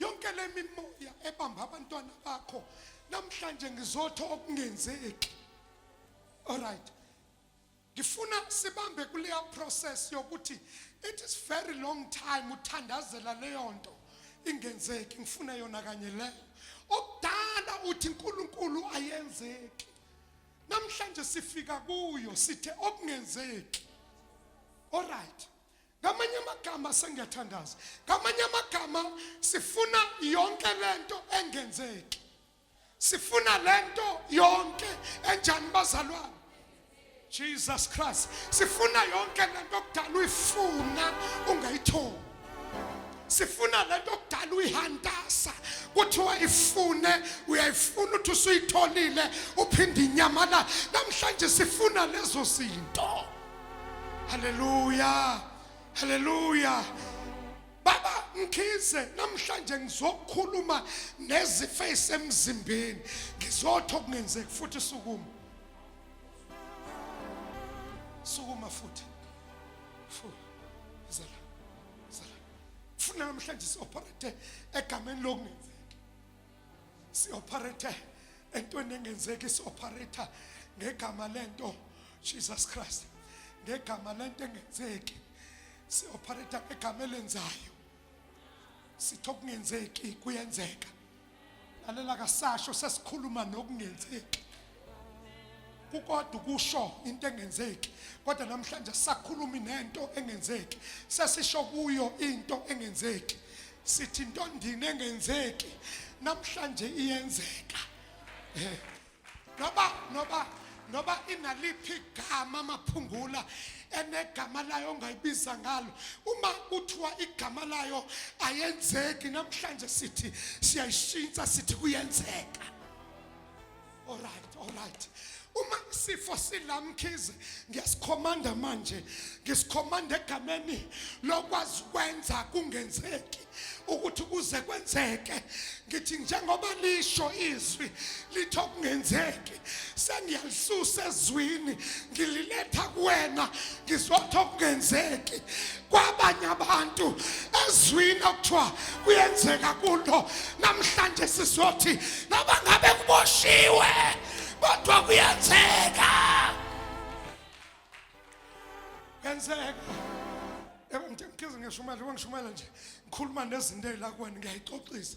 yonke le mimoya ebamba abantwana bakho namhlanje ngizotha okungenzeki all right ngifuna sibambe kuleya process yokuthi it is very long time uthandazela leyo nto ingenzeki ngifuna yona kanye leyo okudala uthi uNkulunkulu ayenzeki namhlanje sifika kuyo sithe okungenzeki all right ngamanye amagama sengiyathandaza ngamanye amagama sifuna yonke lento engenzeki sifuna lento yonke enjani bazalwane Jesus Christ sifuna yonke lento okudala uyifuna ungayitholi sifuna lento okudala uyihantasa kuthiwa ifune uyayifuna uthi usuyitholile uphinde inyamalala namhlanje sifuna lezo zinto Hallelujah. Hallelujah. Baba ngikhize namhlanje ngizokhuluma nezifo ezisemzimbeni. Ngizotho kungenzeki futhi sukuma. Sukuma futhi. Futhi. Zala. Zala. Funa namhlanje si-operate egameni lokungenzeki. sioperator entweni engenzeki sioperator ngegama lento Jesus Christ ngegama lento engenzeki sioperator ngegama elenzayo sitho kungenzeki kuyenzeka lalela kasasho sesikhuluma nokungenzeki kukodwa ukusho into engenzeki kodwa namhlanje sakhulumi nento engenzeki sesisho kuyo into engenzeki sithi into ndini engenzeki namhlanje iyenzeka eh. noba noba noba inaliphi igama amaphungula enegama layo ongayibiza ngalo uma kuthiwa igama layo ayenzeki namhlanje sithi siyayishintsha sithi kuyenzeka Alright, alright. Uma isifo silamkhize ngiyasikhomanda manje. Ngisikhomanda egameni lokwazi kwenza kungenzeki ukuthi kuze kwenzeke. Ngithi njengoba lisho izwi litho kungenzeki. Sengiyalisusa ezwini ngililetha kuwena ngizotho kungenzeki. kwabanye abantu ezwini okuthiwa kuyenzeka kulo namhlanje sizothi noma ngabe kuboshiwe kodwa kuyenzeka kuyenzeka yebo ngithe ngikize ngishumayela uba ngishumayela nje ngikhuluma nezinto ey'lakuwena ngiyayixoxisa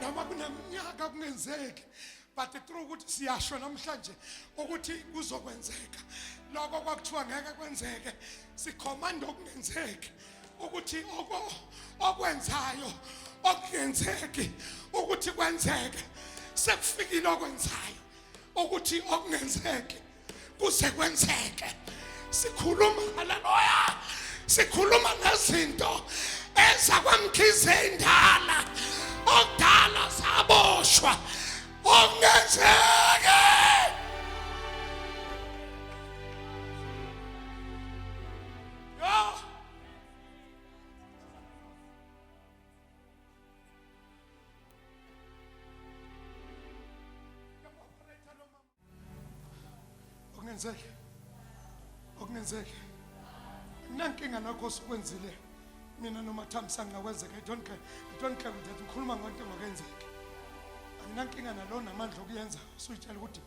noma kuneminyaka kungenzeki but through ukuthi siyasho namhlanje ukuthi kuzokwenzeka lokho kwakuthiwa ngeke kwenzeke sikhomanda okungenzeki ukuthi okwenzayo okungenzeki ukuthi kwenzeke sekufikile okwenzayo ukuthi okungenzeki kuze kwenzeke sikhuluma haleluya sikhuluma ngezinto eza kwamkhize indala okudala saboshwa okungenzeke okungenzeki okungenzeki nankinga nakho sikwenzile mina noma thamsanqa kwenzeka i don't care i don't care with that ngikhuluma ngonto engakenzeki anginankinga nalo namandla okuyenza usuyitshela ukuthi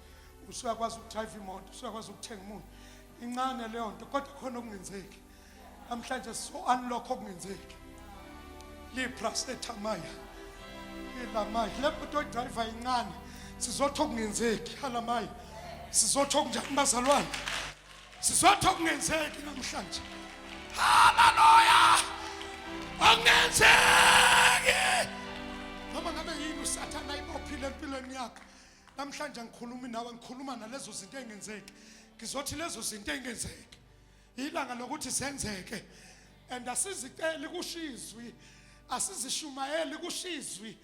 usuyakwazi ukudrive imoto usuyakwazi ukuthenga umuntu incane leyo nto kodwa khona okungenzeki namhlanje so unlock okungenzeki liprasetamaya ilamaya le moto oyidrayiva yincane sizotho okungenzeki halamaya sizotho okunjani bazalwane sizotho okungenzeki namhlanje haleluya okungenzeki noma ngabe yini usathana ibophile empilweni yakho namhlanje angikhulumi nawe ngikhuluma nalezo zinto engenzeki ngizothi lezo zinto engenzeki ilanga lokuthi zenzeke and asiziceli kushizwi asizishumayeli kushizwi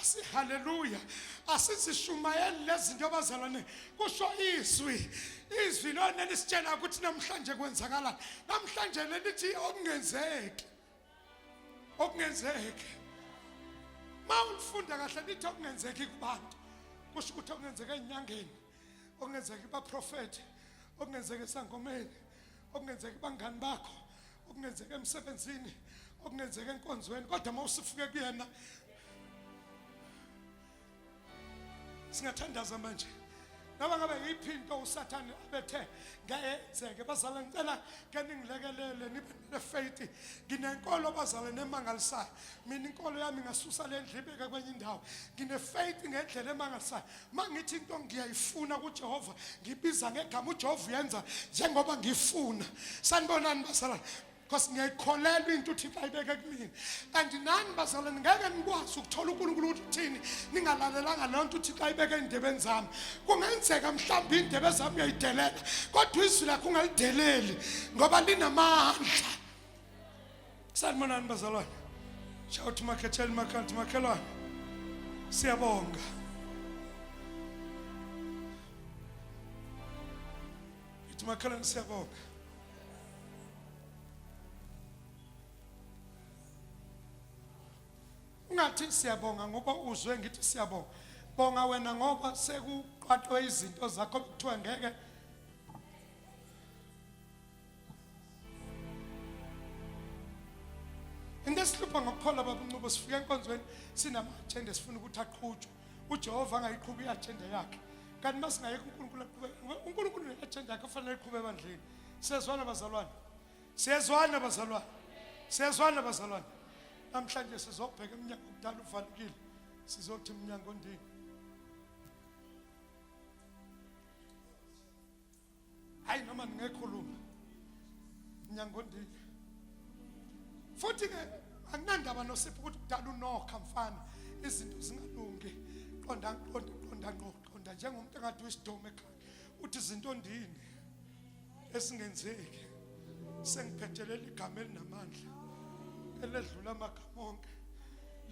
asihaleluya asizishumayeli lezinto abazalwane kusho izwi izwi lona lisitshela ukuthi namhlanje kwenzakalani namhlanje lelithi okungenzeki okungenzeki mawulifunda kahle lithi okungenzeki kubantu kusho ukuthi okungenzeka enyangeni okungenzeka baprofeti okungenzeka esangomeni okungenzeka bangani bakho okungenzeka emsebenzini okungenzeka enkonzweni kodwa uma usifuke kuyena singathandaza manje noma ngabe yiphi into usathane abethe ngayenzeke bazala ngicela ke ningilekelele nibe ne-faith nginenkolo bazala nemangalisayo mina inkolo yami ngasusa le ndlibeke kwenye indawo ngine-faith ngendlela emangalisayo uma ngithi into ngiyayifuna kujehova ngibiza ngegama ujehova uyenza njengoba ngifuna sanibonani basalana because ngiyayikholelwa into uthixo ayibeke kumina and nani bazalwane ngeke nikwazi ukuthola unkulunkulu ukuthi uthini ningalalelanga leyo nto uthixo ayibeke ey'ndebeni zami kungenzeka mhlawumbe iy'ndebe zami uyayidelela kodwa izwi lakho ungalideleli ngoba linamandla Sanibonani bazalwane. Shout makhetheni makhanti makhelwane. Siyabonga. Ithi makhelwane siyabonga. Ungathi siyabonga ngoba uzwe ngithi siyabonga. Bonga wena ngoba sekuqwathwe izinto zakho kuthiwa ngeke into esihlupha ngokukholwa babuncubo sifika enkonzweni sinama-ajenda sifuna ukuthi aqhutshwe ujehova angayiqhubi i-ajenda yakhe kanti uma singayeka unkulunkulu aqhube unkulunkulu ne-ajenda yakhe kufanele iqhube ebandleni siyezwana bazalwane siyezwana bazalwane siyezwana bazalwane namhlanje sizobheka emnyango kudala uvalekile sizothi mnyango ndini hayi noma ningekhuluma nyangondile futhi ke anginandaba nosipho ukuthi kudala unokha mfana izinto zingalungi qonda qonda qonda qonda njengomuntu engathi uyisidomu ekhaya uthi izinto ndini esingenzeki sengiphethelela igama elinamandla eledlula amagama onke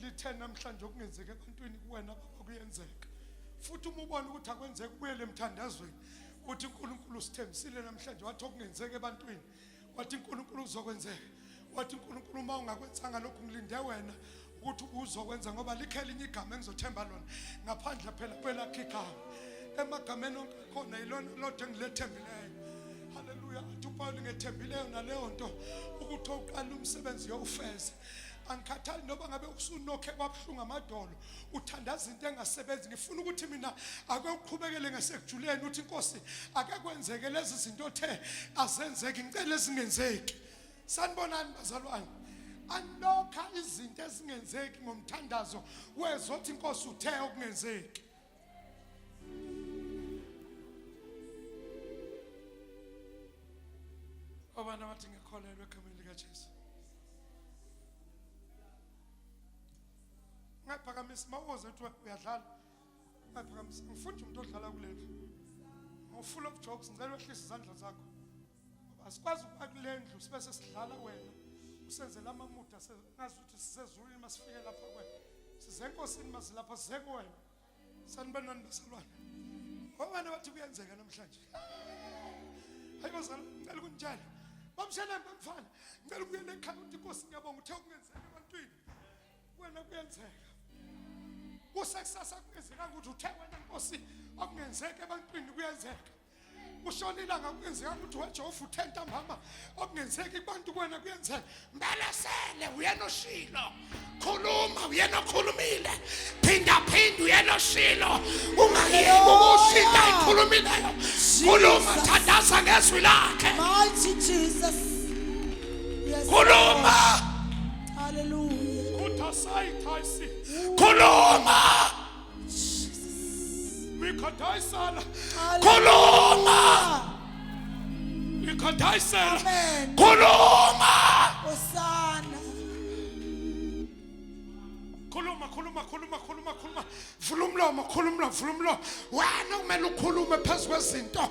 lithe namhlanje okungenzeka ebantwini kuwena baba kuyenzeka futhi uma ubona ukuthi akwenzeki ubuyele emthandazweni uthi uNkulunkulu usithembisile namhlanje wathi okungenzeka ebantwini wathi uNkulunkulu uzokwenzeka wathi uNkulunkulu uma ungakwenzanga lokhu ngilinde wena ukuthi uzokwenza ngoba likhe elinye igama engizothemba lona ngaphandle phela kwelakhe igama emagameni onke khona yilona lodwa engilethembileyo haleluya athi upawuli ngethembileyo naleyo nto ukuthi oqala umsebenzi yowufeze angikhathali noba ngabe usunokhe kwabuhlungu amadolo uthandaza into engasebenzi ngifuna ukuthi mina ake uqhubekele ngesekujuleni uthi inkosi ake kwenzeke lezi zinto othe azenzeki ngicela ezingenzeki sanibonani bazalwane anokha izinto ezingenzeki ngomthandazo wezothi inkosi uthe okungenzeki obana bathi ngikholelwe egameni likaJesu ungayiphakamisi mawuze kuthiwa uyadlala ungayiphakamisi ngifunde umuntu odlala kulendlu mawufula ubujokes ngicela wehlise izandla zakho asikwazi ukuba kule ndlu sibe sesidlala wena usenzela amamuda ngazi ukuthi sisezulwini masifike lapha kwena size enkosini mazilapha size kuwena sanibani nani bazalwane obani abathi kuyenzeka namhlanje hayi bazalwane ngicela ukunitshela bamsheleni bamfana ngicela ukuyela ekhaya ukuthi inkosi ngiyabonga uthe kungenzeka ebantwini wena kuyenzeka kusekusasa kungenzekanga ukuthi uthe wena nkosi okungenzeka ebantwini kuyenzeka ushonile angakungenzeka ukuthi wejehova uthenta mama okungenzeki kubantu kwena kuyenzeka mbelesele uyena oshilo khuluma uyena okhulumile phinda phinda uyena oshilo ungayeki ukushinda ikhulumileyo khuluma thandaza ngezwi lakhe mighty jesus khuluma haleluya khuluma Mikadaisala. Koloma. Mikadaisala. Koloma. Osana. Khuluma khuluma khuluma khuluma khuluma. Vula umlomo khuluma vula umlomo. Wena kumele ukhulume phezu kwezinto.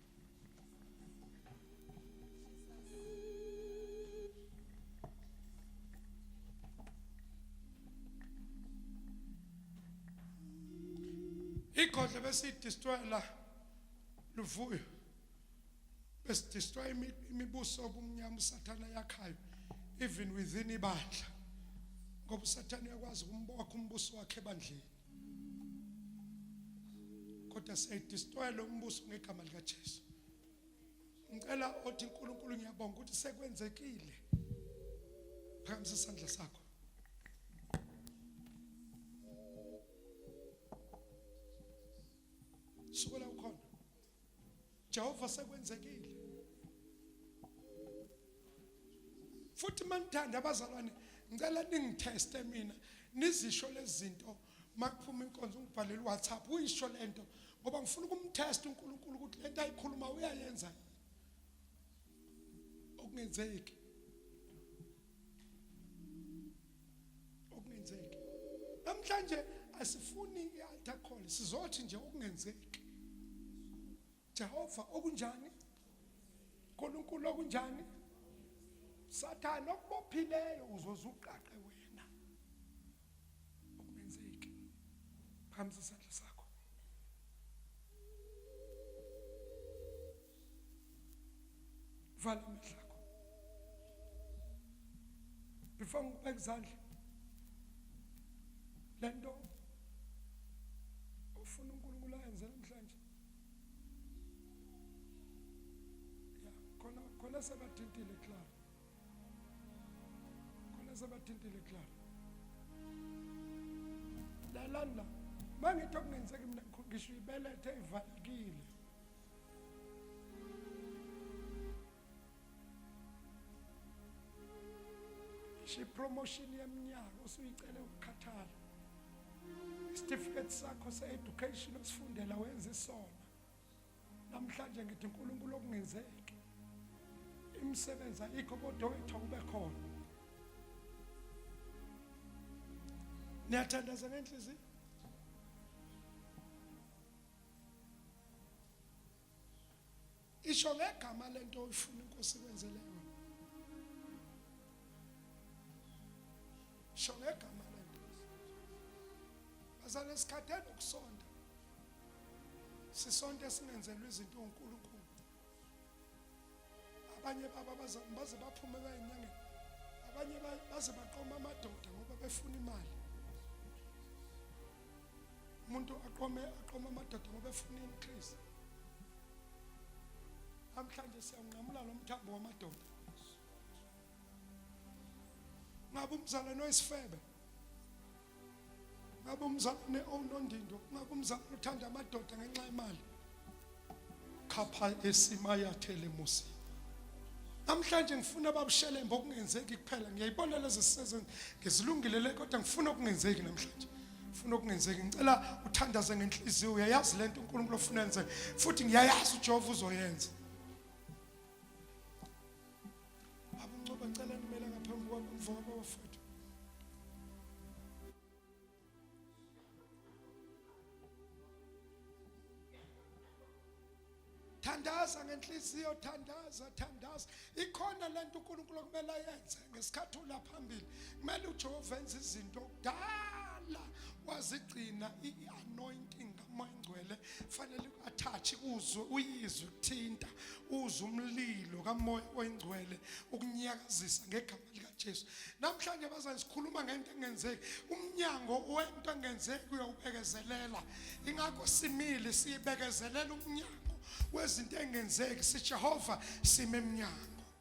igodle besidistwela luvuyo besidistwa imibuso obumnyama usathana yakhayo even within ibandla ngoba usathana uyakwazi ukumbokha umbuso wakhe ebandleni kodwa siyayidistroyela umbuso ngegama likaJesu ngicela othi uNkulunkulu ngiyabonga ukuthi sekwenzekile phakamisa isandla sakho Jehova sekwenzekile futhi manithanda abazalwane ngicela ningitheste mina nizisho lezinto makuphuma inkonzo ngibhalele WhatsApp uyisho lento ngoba ngifuna ukumtest uNkulunkulu ukuthi lento ayikhuluma uyayenza okungenzeki okungenzeki namhlanje asifuni i-altar call sizothi nje okungenzeki Jehova okunjani uNkulunkulu okunjani sathane okubophileyo uzoze uqaqe wena okungenzeki phambi isandla sakho vala amehlo akho before ngikubeka izandla le nto ufuna unkulunkulu ayenze namhlanje ya khona khona sebathintile clara khona sebathintile clara lalanda mangithi okungenzeki mina ngisho ibelethe ivalekile ngisho ipromotion yeminyaka usuyicele ukukhathala isitifiketi sakho se-education osifundela wenze sona namhlanje ngithi unkulunkulu okungenzeki imisebenzi ayikho kodwa wethu akube khona niyathandaza ngenhliziyo isho ngegama lento oyifuna inkosi kwenzele yona isho ngegama lento bazana isikhatheni ukusonda sisonto esingenzelwe izinto uNkulunkulu abanye babo abazali baze baphume bayinyangeni abanye baze baqoma amadoda ngoba befuna imali umuntu aqome aqome amadoda ngoba efuna increase namhlanje siyanqamula lo mthambo wamadoda ngabe umzalwane oyisifebe ngabe umzalwane onondindo ngabe umzalwane uthanda amadoda ngenxa yemali khapha esimayathele musi namhlanje ngifuna babushelembe okungenzeki kuphela ngiyayibona lezi sisezo ngizilungile le kodwa ngifuna okungenzeki namhlanje ngifuna okungenzeki ngicela uthandaze ngenhliziyo uyayazi le nto unkulunkulu ofuna yenze futhi ngiyayazi ujehova uzoyenza Abuncoba ngicela nimela ngaphambi kwakho mfowabo wafethu. thandaza ngenhliziyo thandaza thandaza ikhona lento uNkulunkulu okumele ayenze ngesikhathi ula phambili kumele uJehova enze izinto kudala wazigcina ianointing umoya ongcwele fanele uathathe uzwe uyizwe kuthinta uzwe umlilo kamoya oyingcwele ukunyakazisa ngegama likaJesu namhlanje bazani sikhuluma ngento engenzeki umnyango wento engenzeki uyawubekezelela ingakho simile siyibekezelela umnyango wezinto engenzeki siJehova sime emnyango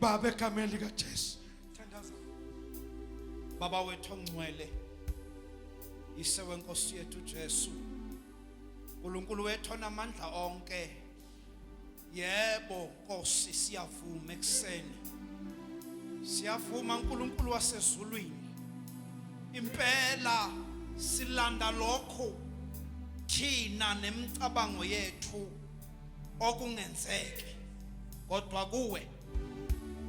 baba egameni likaJesu thandaza baba wethu ongcwele ise wenkosi yethu Jesu uNkulunkulu wethu onamandla onke yebo Nkosi siyavuma ekseni siyavuma uNkulunkulu wasezulwini impela silanda lokho thina nemicabango yethu okungenzeki kodwa kuwe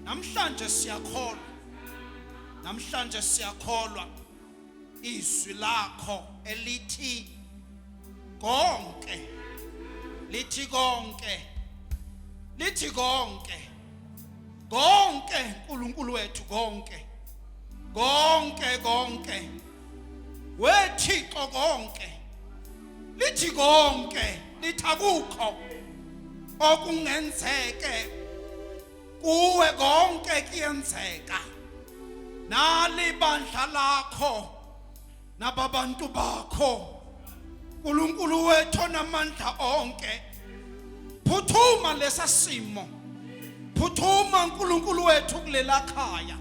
namhlanje siyakholwa namhlanje siyakholwa izwi lakho elithi konke lithi konke lithi konke konke uNkulunkulu wethu konke konke konke wethixo konke lithi konke lithi akukho okungenzeke kuwe konke kuyenzeka nali bandla lakho nababantu bakho uNkulunkulu wethu onamandla onke phuthuma lesa simo phuthuma uNkulunkulu wethu kulela khaya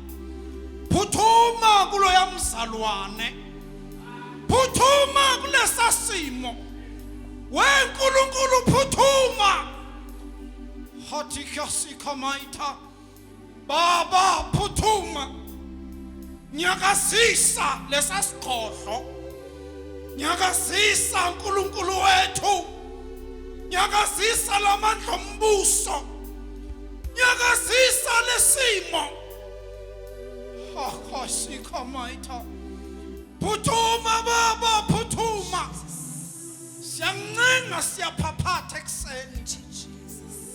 phuthuma kuloya mzalwane phuthuma kulesa simo weNkulunkulu phuthuma hathi kyasikamaitha Baba phuthuma nyakazisa lesasigodlo nyakazisa uNkulunkulu wethu nyakazisa lamandla ombuso nyakazisa lesimo akhosikho mayitha phuthuma baba phuthuma siyancenga siyaphaphatha ekuseni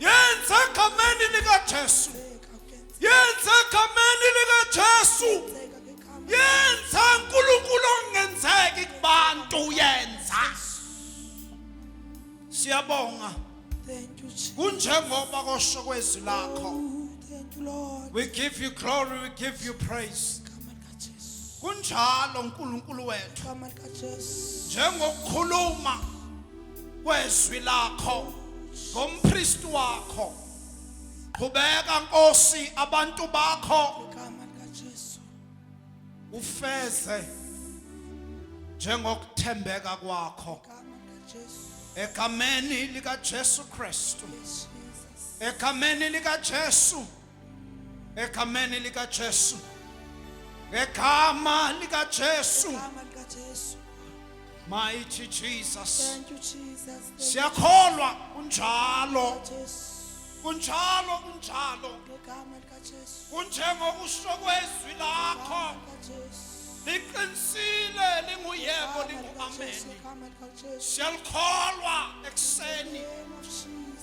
yenza egameni likaJesu yenza egameni likaJesu yenza uNkulunkulu ongenzeki kubantu uyenza siyabonga kunjengoba kosho kwezwi lakho oh, we give you glory we give you praise kunjalo uNkulunkulu wethu Igama likaJesu. njengokukhuluma kwezwi lakho ngompristi wakho qhubeka nkosi abantu bakho Igama likaJesu. ufeze njengokuthembeka kwakho Igama likaJesu. egameni likaJesu Kristu Yes, Jesus. egameni likaJesu egameni likaJesu ngegama likaJesu Igama likaJesu. mighty Jesus Thank you Jesus. Thank you, siyakholwa kunjalo Jesu. kunjalo kunjalo Ngegama likaJesu. kunjengokusho kwezwi lakho Igama likaJesu. liqinisile linguyebo Igama likaJesu. linguameni Igama likaJesu. siyalikholwa ekuseni Name of Jesus.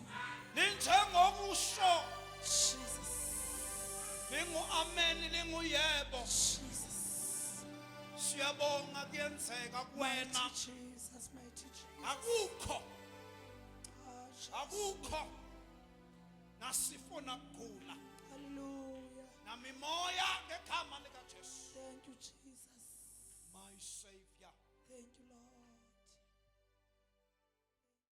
linjengokusho Jesus lingu amen lingu yebo Jesus siyabonga kuyenzeka kuwena Jesus mighty Jesus akukho ah, akukho nasifuna kugula haleluya namimoya ngegama lika Jesu thank you Jesus my savior thank you lord